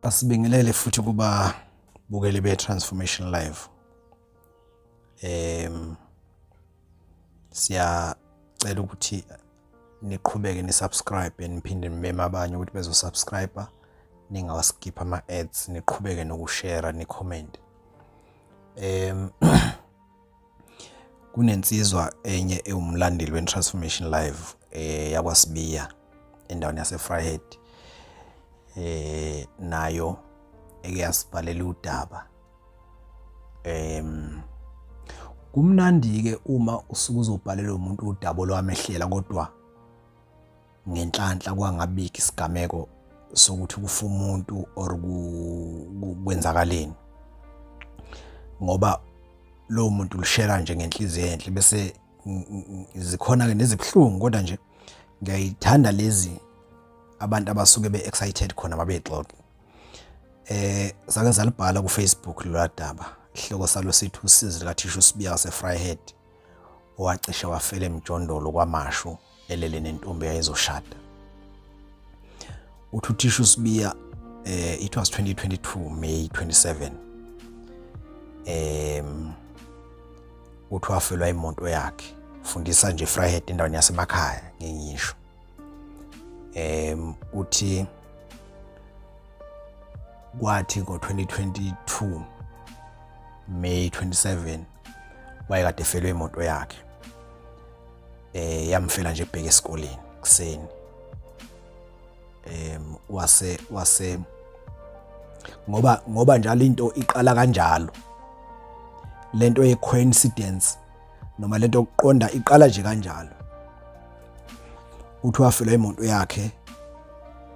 Asibingelele futhi kuba bukeli be Transformation Live. Em siya cela ukuthi niqhubeke ni subscribe niphinde nimeme abanye ukuthi bezo subscriber ningawaskip ama ads niqhubeke nokushare ni comment. Em kunensizwa enye ewumlandeli weTransformation Live eh yakwaSibiya endaweni yaseFryhead eh nayo eke yasibhalela udaba em kumnandi ke uma usuke uzobhalela umuntu udaba lwamehlela kodwa ngenhlanhla kwangabiki isigameko sokuthi kufa umuntu or kwenzakaleni ngoba lo muntu lishela nje ngenhliziyo enhle bese zikhona ke nezibuhlungu kodwa nje ngiyayithanda lezi abantu abasuke be excited khona babexoxa eh sake salibhala ku Facebook lolwadaba ihloko salo sithi usizi likathisha usibiya sefryhead owacishe wafela emjondolo kwamashu elele nentombi yayizoshada uthi uthisha usibiya eh it was 2022 May 27 em uthi wafelwa imoto yakhe fundisa nje Fryhead endaweni yasemakhaya ngingisho em uthi kwathi ngo-2022 May 27 wayekade efelwe imoto yakhe eh yamfela nje ebheke esikoleni kuseni em wase wase ngoba ngoba njalo into iqala kanjalo lento ye coincidence noma lento yokuqonda iqala nje kanjalo uthi wafela imoto yakhe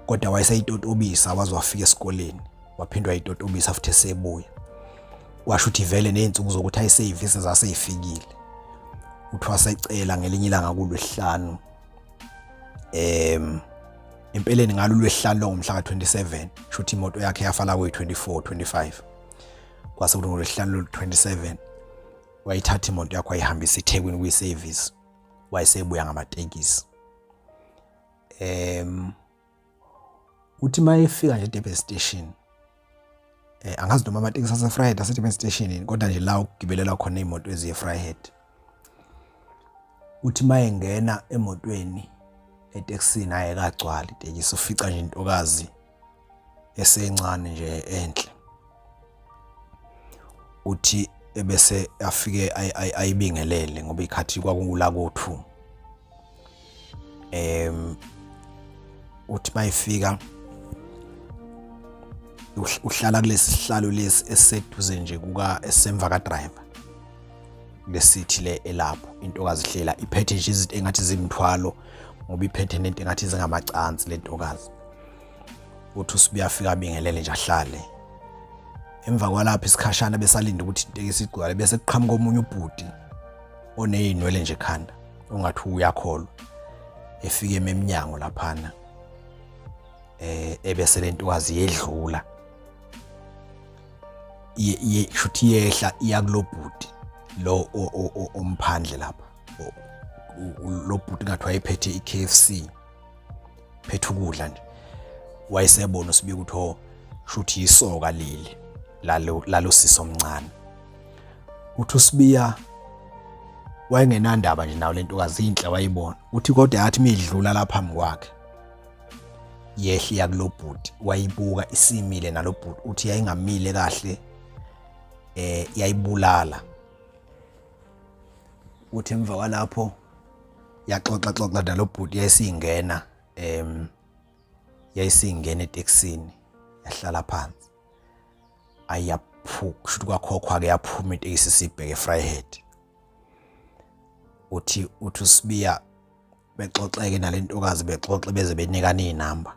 kodwa wayeseyitotobisa waze wafika esikoleni waphindwa yitotobisa futhi esebuya washo ukuthi vele nezinsuku zokuthi ayisevisi zaseyifikile uthwasa ecela ngelinye ilanga kulwesihlanu em empeleni ngalo lwesihlanu longomhla ka27 shuthi imoto yakhe yafala kwe 24 25 kwase kuthi ngolwesihlanu lo 27 wayithatha imoto yakho ayihambisa eThekwini kwi service wayesebuya ngamatekisi em uthi uma efika nje edurban station eh angazi noma amatekisi asefryhead asedurban station yini kodwa nje la ukugibelelwa khona iy'moto eziye efryhead uthi uma engena emotweni etekisini ayekagcwali itekisi ufica nje intokazi esencane nje enhle uthi ebese afike ayibingelele ngoba ikhathi kwakungula kothu em uthi mayifika uhlala kulesi sihlalo lesi eseduze nje kuka esemva ka driver lesithi le elapho intokazi hlela iphethe nje izinto engathi zimthwalo ngoba iphethe nento engathi zingamacansi lentokazi uthi usibuya afika abingelele nje ahlale emva kwalapho isikhashana besalinde ukuthi itekisi igcwale bese kuqhamuka omunye ubhuti onezinwele nje ekhanda ongathi uyakholwa efike ememnyango laphana eh ebese lentokazi yedlula ye shuthi yehla iyakulobhuti lo omphandle lapha lobhuti ngathi wayephethe iKFC phetha ukudla nje wayesebona uSibika ukuthi ho shuthi yisoka leli lalo lalo sisi omncane uthi uSibiya wayengenandaba nje nawo lentokazi inhle wayibona uthi kodwa yathi midlula lapha mkwakhe yehli yakulobhuti wayibuka isimile nalobhuti uthi yayingamile kahle eh yayibulala uthi emva kwalapho yaxoxa xoxa nalo bhuti yayisingena em yayisingena eTexini yahlala phansi ayaphuka kusho kwakhokhwa ke yaphuma iTexi sibheke Fryhead uthi uthi usibiya bexoxeke nalentokazi bexoxe beze benikana izinamba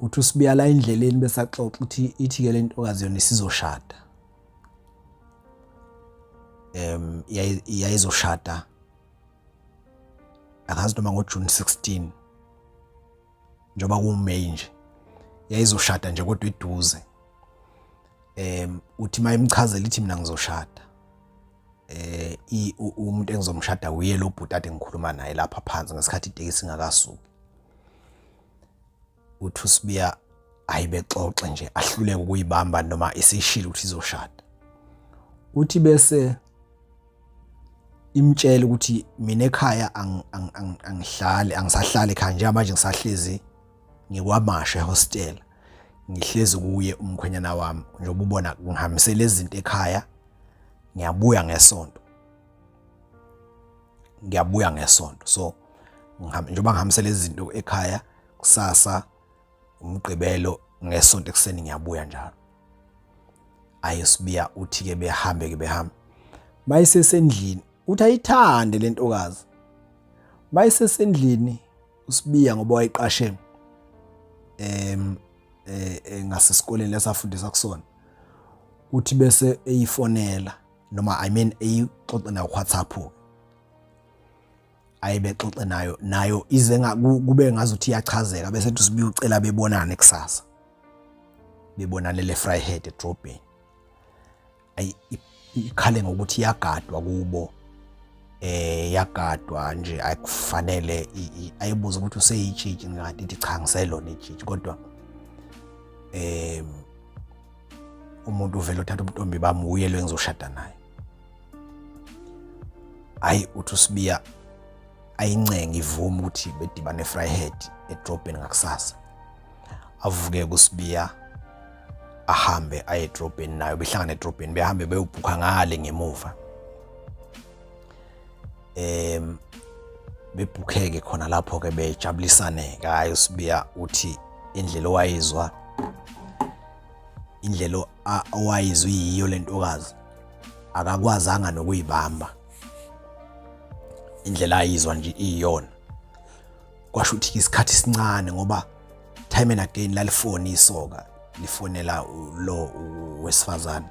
uthi usibiya la endleleni bese axoxa ukuthi ithi ke lentokazi yona isizoshada em yayizoshada akazi noma ngo June 16 njoba ku May nje yayizoshada nje kodwa eduze em uthi mayimchazela ithi mina ngizoshada eh umuntu engizomshada uye lo bhuti ade ngikhuluma naye lapha phansi ngesikhathi itekisi ingakasuki uthi usibiya ayibexoxe nje ahluleke ukuyibamba noma isishilo ukuthi izoshada uthi bese imtshela ukuthi mina ekhaya angihlali angisahlali ekhaya njengamanje ngisahlezi ngikwamashe hostel ngihlezi kuye umkhwenyana wami njengoba ubona ngihambisela izinto ekhaya ngiyabuya ngesonto ngiyabuya ngesonto so njengoba ngihambise lezi zinto ekhaya kusasa umgqibelo ngesonto ekuseni ngiyabuya njalo aye sibiya uthi ke behambe ke behamba mayisesendlini uthi ayithande lentokazi mayisesendlini usibiya ngoba wayiqashe em eh, eh ngasesikoleni lesafundisa kusona uthi bese eyifonela noma i mean eyixoxe nayo WhatsApp ayebexoxe nayo nayo ize kube ngazuthi iyachazeka bese ethi sibuye ucela bebonane kusasa bebonane le Vryheid edrobheni ayi ikhale ngokuthi iyagadwa kubo eh yagadwa nje ayikufanele ayibuza ukuthi useyitshitshi ngathi ithi cha ngiselona itshitshi kodwa eh umuntu uvele uthatha ubuntombi bami wuye lo engizoshada naye hayi uthi usibiya ayincenge ivume ukuthi bedibane efryhead edrobheni ngakusasa avuke kusibiya ahambe aye edrobheni nayo behlangane edrobheni behambe beyobhukha ngale ngemuva em bebhukheke khona lapho ke bejabulisane ngayo uSibiya uthi indlela owayizwa indlela owayizwa yiyo lentokazi akakwazanga nokuyibamba indlela ayizwa nje iyona kwasho ukuthi isikhathi sincane ngoba time and again lalifoni isoka lifonela lo wesifazane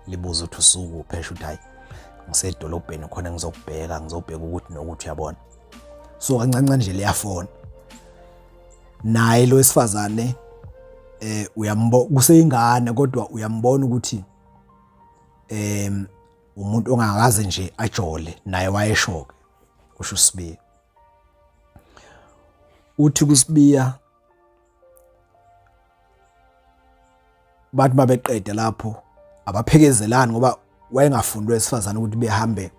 libuza ukuthi usuku phesha ukuthi hayi ngisedolobheni khona ngizokubheka ngizobheka ukuthi nokuthi uyabona so kancane nje liyafona naye lo wesifazane eh uyambona kuseyingane kodwa uyambona ukuthi em umuntu ongakaze nje ajole naye wayeshoke kusho uSibiya uthi kuSibiya bathi babeqede lapho abaphekezelani ngoba wayengafundwe esifazane ukuthi behambe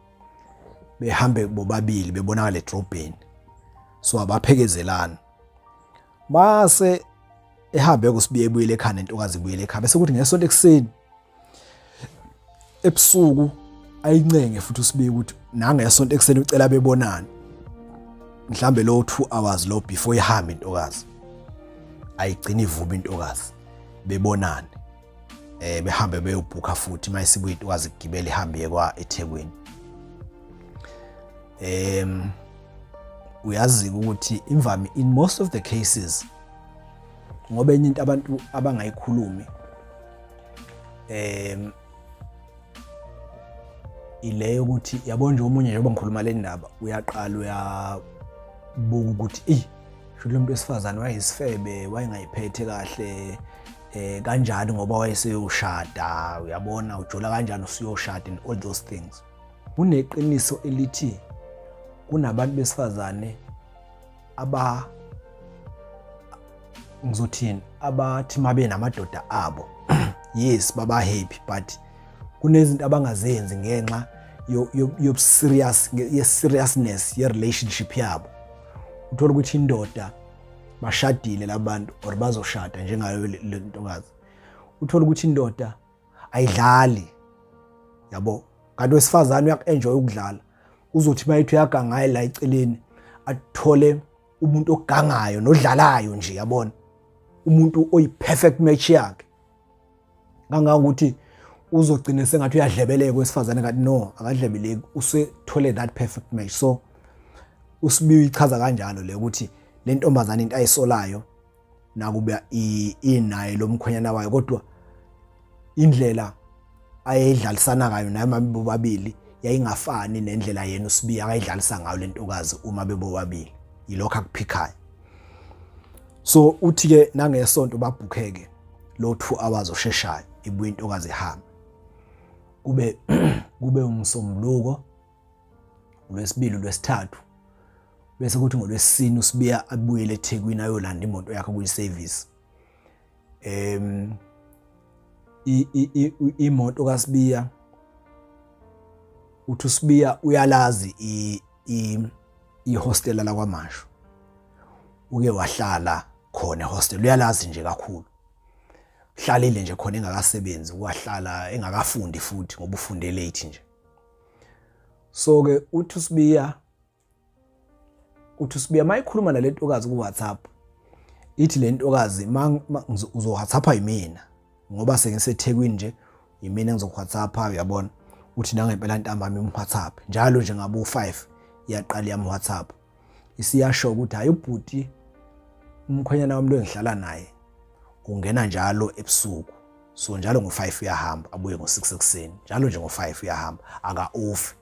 behambe bobabili bebonakala edrobheni so abaphekezelani mase ehambe kusibiye ebuyele ekhanda intokazi ibuyele ekhaya bese kuthi ngesonto ekuseni ebusuku ayincenge futhi usibike ukuthi nangesonto ekuseni ucela bebonane mhlambe lo 2 hours lo before ihambe intokazi ayigcina ivume intokazi bebonane eh behambe beyobhukha futhi mayisibuye intokazi igibele ihambe kwa eThekwini em uyazi ukuthi imvami in most of the cases ngoba enye into abantu abangayikhulumi um ile yokuthi yabo nje omunye njengoba ngikhuluma le ndaba uyaqala uyabuka ukuthi eyi shuthi lo muntu wesifazane wayeyisifebe wayengayiphethe kahle eh kanjani ngoba wayeseyoshada uyabona ujola kanjani usuyoshada and all those things kuneqiniso elithi kunabantu besifazane aba ngizothini abathi mabe namadoda abo yes baba happy but kunezinto abangazenzi ngenxa yo serious ye seriousness ye relationship yabo uthola ukuthi indoda bashadile labantu or bazoshada njengayo le ntokazi uthola ukuthi indoda ayidlali yabo kanti wesifazane uyaku-enjoy ukudlala uzothi uma ethi uyagangaye la eceleni athole umuntu ogangayo nodlalayo nje yabona umuntu oyi-perfect match yakhe kangangokuthi uzogcina sengathi uyadlebeleka wesifazane kanti no akadlebeleki usethole that perfect match so usibiwe ichaza kanjalo le ukuthi le ntombazane into ayisolayo nakuba inaye lo mkhwenyana wayo kodwa indlela ayedlalisana kayo naye mama bobabili yayingafani nendlela yena usibiya akayidlalisa ngayo lentokazi uma bebobabili yilokho akuphikhayo so uthi ke nangesonto babhukheke lo 2 hours osheshayo ibuye intokazi ihamba kube kube umsombuluko uLwesibili uLwesithathu bese kuthi ngolwesine usibiya abuyele eThekwini ayolanda imoto yakhe kuyi service em imoto kaSibiya uthi uSibiya uyalazi i ihostela la kwaMashu uke wahlala khona hostel uyalazi nje kakhulu hlalile nje khona engakasebenzi wahlala engakafundi futhi ngoba ufunde late nje so ke uthi usibiya uthi usibiya mayikhuluma nalentokazi ku WhatsApp ithi lentokazi uzo WhatsAppa yimina ngoba sengisethekwini nje yimina ngizo WhatsAppa uyabona uthi nangempela ntambama im WhatsApp njalo nje ngabo 5 iyaqala yam WhatsApp isiyasho ukuthi hayi ubhuti umkhwenyana wami lo engihlala naye ungena njalo ebusuku so njalo ngo-5 uyahamba abuye ngo-6 ekuseni njalo nje ngo-5 uyahamba aka-ofi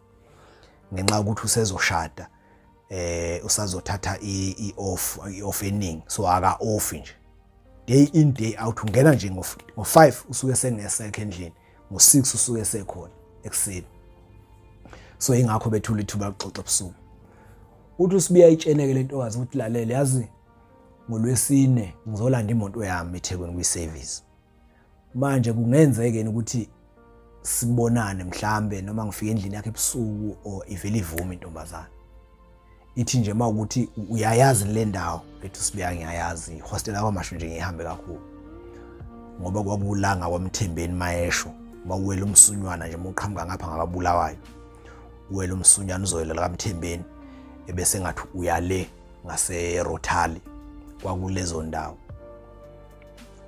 ngenxa yokuthi usezoshada eh usazothatha i-off i-off eningi so aka-ofi nje day in day out ungena nje ngo-5 usuke sengesekho endlini ngo-6 usuke sekhona ekuseni so ingakho bethula ithuba lokuxoxa ebusuku uthi usibiya itsheneke le ntokazi ukuthi lalele yazi ngolwesine ngizolanda imoto yami ethekwini kwi-service manje kungenzekeni ukuthi sibonane mhlambe noma ngifike endlini yakhe ebusuku or ivele ivume intombazana ithi nje uma ukuthi uyayazi le ndawo ethi sibuya ngiyayazi ihostela kwamasho nje ngihambe kakhulu ngoba kwabulanga kwamthembeni mayesho bawuwela umsunywana nje muqhamuka ngapha ngababulawayo uwela umsunywana uzoyela kamthembeni ebese ngathi uyale ngase Rotali kwakulezo ndawo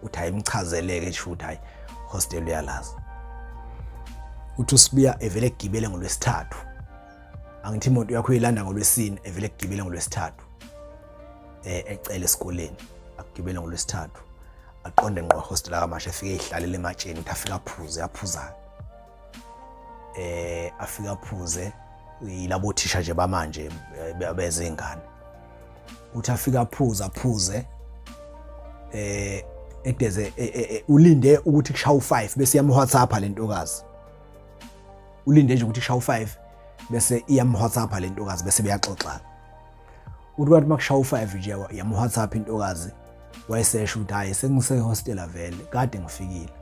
uthi ayimchazeleke sho ukuthi hayi hostel uyalazi uthi usibuya evele egibele ngolwesithathu angithi imoto yakho uyilanda ngolwesine evele egibele ngolwesithathu eh ecele esikoleni agibele ngolwesithathu aqonde ngqo hostel kamasha efike ihlalele ematsheni uthi afika aphuze aphuzayo eh afika aphuze yilabo thisha nje bamanje eh, bezingane uthi afika aphuze aphuze eh edeze e, e, e, ulinde ukuthi kushawu 5 bese yam WhatsApp lentokazi ulinde nje ukuthi kushawu 5 bese iyam WhatsApp lentokazi bese beyaxoxana uthi kwathi makushawa u-five nje yamuwhatsapp intokazi wayesesho ukuthi hhayi sengisehostela vele kade ngifikile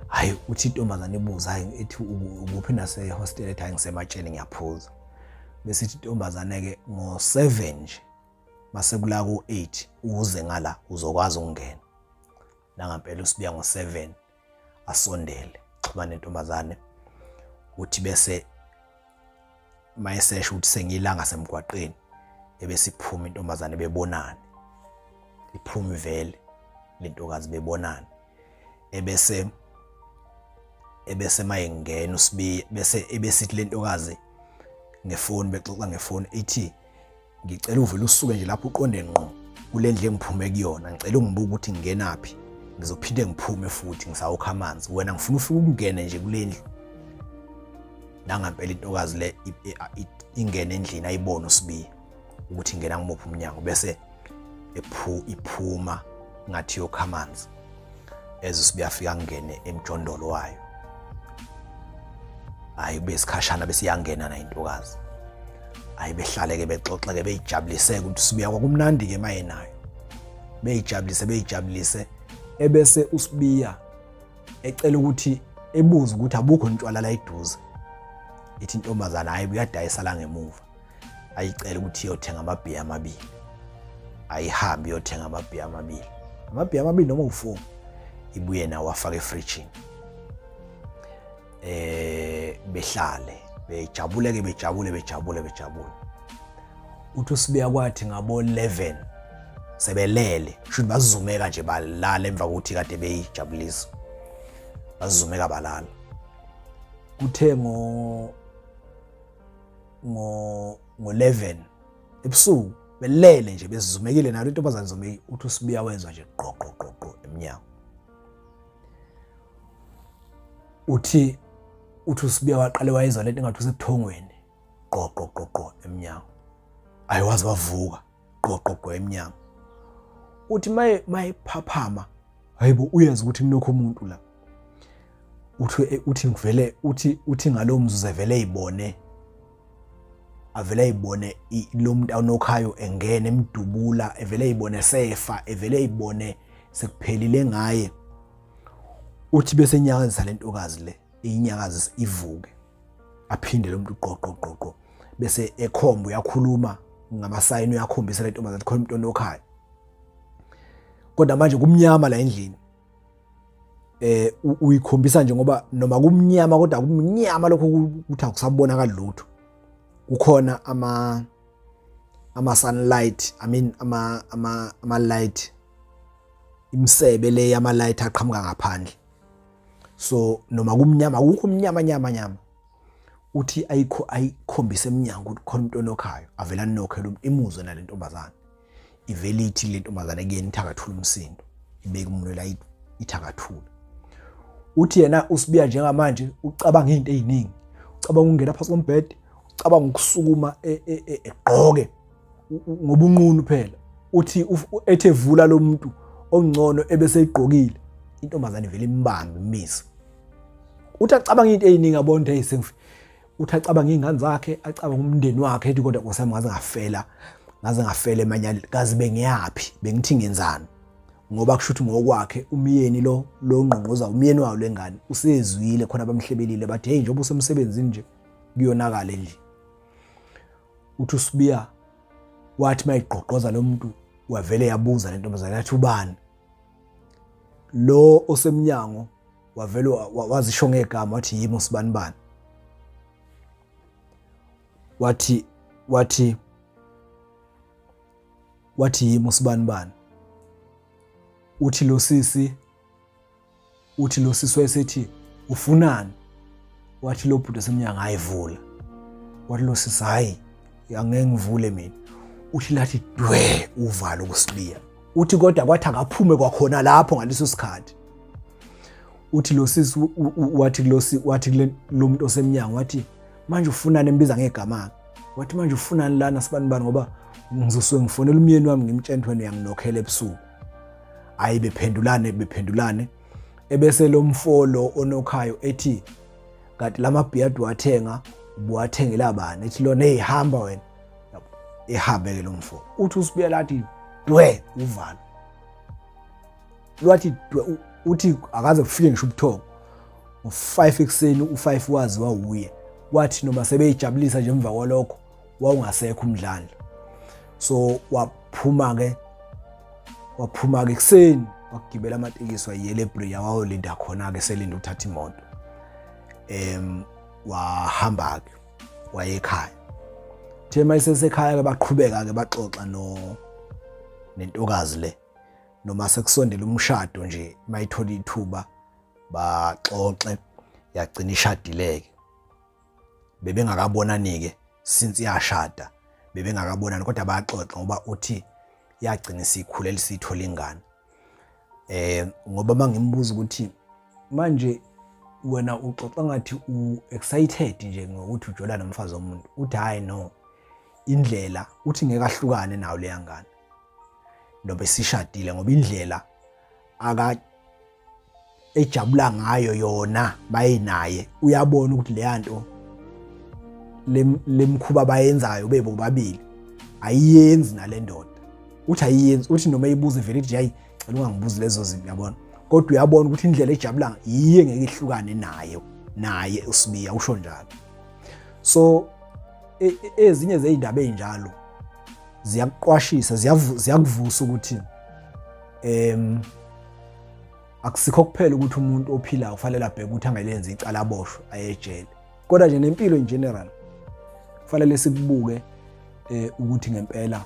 hhayi uthi intombazane ibuza hhayi ethi ukuphi nasehostela ethi hhayi ngisematsheni ngiyaphuza bese ithi intombazane-ke ngo-seven nje masekula ku-eight uze ngala uzokwazi ukungena nangampela usibiya ngo-seven asondele xhumane ntombazane uthi bese mayesesho ukuthi sengilanga semgwaqeni ebesiphuma intombazane bebonane iphumi vele lentokazi bebonane ebese ebese mayengena usibiya bese ebesithi lentokazi ngefoni bexoxa ngefoni ithi ngicela uvele usuke nje lapho uqonde ngqo kule ndlu engiphume kuyona ngicela ungibuke ukuthi ngingenaphi ngizophinde ngiphume futhi ngisawukha amanzi wena ngifuna ufike ukungene nje kule ndlu nangampela intokazi le ingene endlini ayibone usibiya ukuthi ingena ngimuphi umnyango bese ephu iphuma ngathi yokha amanzi eze sibuyafika ngene emjondolo wayo hayi kube isikhashana bese iyangena na intokazi hayi behlaleke bexoxeke beyijabulise ukuthi sibuya kwakumnandi ke maye nayo beyijabulise beyijabulise ebese usibiya ecela ukuthi ebuze ukuthi abukho ntshwala la iduze ithi intombazana hayi buyadayisa la ngemuva ayicela ukuthi iyothenga amabhiya amabili ayihambe iyothenga amabhiya amabili amabhiya amabili noma uwu-four ibuye nawo afake efrijini eh behlale bejabule ke bejabule bejabule bejabule uthi usibuya kwathi ngabo 11 sebelele kusho bazumeka nje balala emva kokuthi kade beyijabulisa bazumeka balala kuthe ngo ngo-11 ebusuku belele nje bezizumekile nalo intombazane izumekile uthi usibiya wezwa nje qoqoqoqo emnyango uthi uthi usibiya waqale wayezwa lento engathi usebuthongweni qoqoqoqo emnyango ayiwazi wavuka gqogqogqo emnyango uthi maye mayephaphama hayibo uyazi ukuthi kunokho umuntu la uthi eh, uthi ngivele uthi uthi ngalowo mzuzu evele eyibone avele ayibone lo muntu awunokhayo engene emdubula evele ayibone sefa evele ayibone sekuphelile ngaye uthi bese nyakazisa lentokazi le inyakazise ivuke aphinde lo muntu qoqoqoqo bese ekhomba uyakhuluma ngamasayini uyakhombisa le ntombazane ukuthi khona umuntu onokhaya kodwa manje kumnyama la endlini eh uyikhombisa nje ngoba noma kumnyama kodwa kumnyama lokho ukuthi akusabonakali lutho kukhona ama ama sunlight i mean ama ama ama light imsebe le yama light aqhamuka ngaphandle so noma kumnyama kukho umnyama nyama nyama uthi ayikho ayikhombise eminyango ukuthi khona umuntu onokhayo avela anokhela umuntu imuzwe nale ntombazane ivele ithi le ntombazane kuyena ithakathula umsindo ibeke umuntu la ithakathula uthi yena usibiya njengamanje ucabanga izinto eziningi ucabanga ukungena phansi kombhede ucabanga ukusukuma e, e, e, egqoke ngobunqunu phela uthi ethe vula lo muntu ongcono ebeseyigqokile intombazane vele imbambe imisa uthi acabanga into eyiningi abona ukuthi sengifi uthi acabanga iy'ngane zakhe acabanga umndeni wakhe ethi kodwa nkosi yami ngaze ngafela ngaze ngafela emanyaleni kazi bengiyaphi bengithi ngenzani ngoba kusho ukuthi ngokwakhe umyeni lo lo ngqongqoza umyeni wayo lengane usezwile khona bamhlebelile bathi hey njengoba usemsebenzini nje kuyonakala endlini uthi usibiya wathi mayigqoqoza lo muntu wavele yabuza le ntombazane yathi ubani lo osemnyango wavele wazisho ngegama wathi yimi usibani bani wathi wathi wathi yimi usibani bani uthi lo sisi uthi lo sisi wayesethi ufunani wathi lo bhuti esemnyango ayivula wathi lo sisi hayi angeke ngivule mina uthi lathi dwe uvalo ukusibiya uthi kodwa kwathi akaphume kwakhona lapho ngaleso sikhathi uthi lo sisi wathi kulosi wathi kule lo muntu osemnyango wathi manje ufunani embiza ngegama wathi manje ufunani lana sibanibani ngoba ngizosuke ngifonela umyeni wami ngimtshela ukuthi wena uyanginokhela ebusuku hayi bephendulane bephendulane ebese lo mfolo onokhayo ethi kanti la mabhiyadi wathenga ubuwathengela bani ethi lona eyihamba wena ehambe-ke lo mfo uthi usibuya lathi dwe uvalo lwathi dwe uthi akaze kufike ngisho ubuthongo ngo-five ekuseni u-five waziwa wuye kwathi noma sebeyijabulisa nje emva kwalokho wawungasekho umdlalo so waphuma ke waphuma ke kuseni wakugibela amatekisi wayiyela ebria wayolinda khona ke selinda ukuthatha imoto em wahamba ke wayekhaya the mayisesekhaya ke baqhubeka ke baxoxa no nentokazi le noma sekusondela umshado nje mayithola ithuba baxoxe yagcina ishadileke bebengakabonani-ke since yashada bebengakabonani kodwa bayaxoxa ngoba uthi yagcina isikhulele siyithola ingane eh ngoba mangimbuza ukuthi manje wena uxoxa ngathi u excited nje ngokuthi ujola nomfazi omuntu uthi hayi no indlela uthi ngeke ahlukane nawo leya ngane nobe sishadile ngoba indlela aka ejabula ngayo yona bayinaye uyabona ukuthi leya nto lemkhuba bayenzayo bebo babili ayiyenzi nalendoda uthi ayiyenzi uthi noma ibuze vele ithi hayi cela ungangibuzi lezo zinto yabona kodwa uyabona ukuthi indlela ejabula yiye ngeke ihlukane naye naye usibiya usho njalo so e, e, ezinye zeindaba ezinjalo ziyakuqwashisa ziyakuvusa ukuthi em akusikho kuphela ukuthi umuntu ophilayo kufanele abheke ukuthi angelenzi icala aboshwe ayejele kodwa nje nempilo in general kufanele sikubuke eh ukuthi ngempela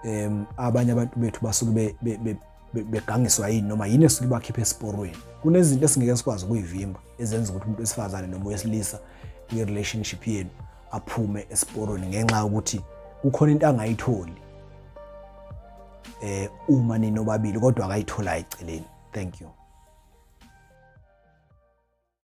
em abanye abantu bethu basuke begangiswa yini noma yini esuke bakhipha esiporweni kunezinto esingeke sikwazi ukuyivimba ezenza ukuthi umuntu wesifazane noma wesilisa kwi relationship yenu aphume esiporweni ngenxa yokuthi kukhona into angayitholi eh uma ninobabili kodwa akayithola eceleni thank you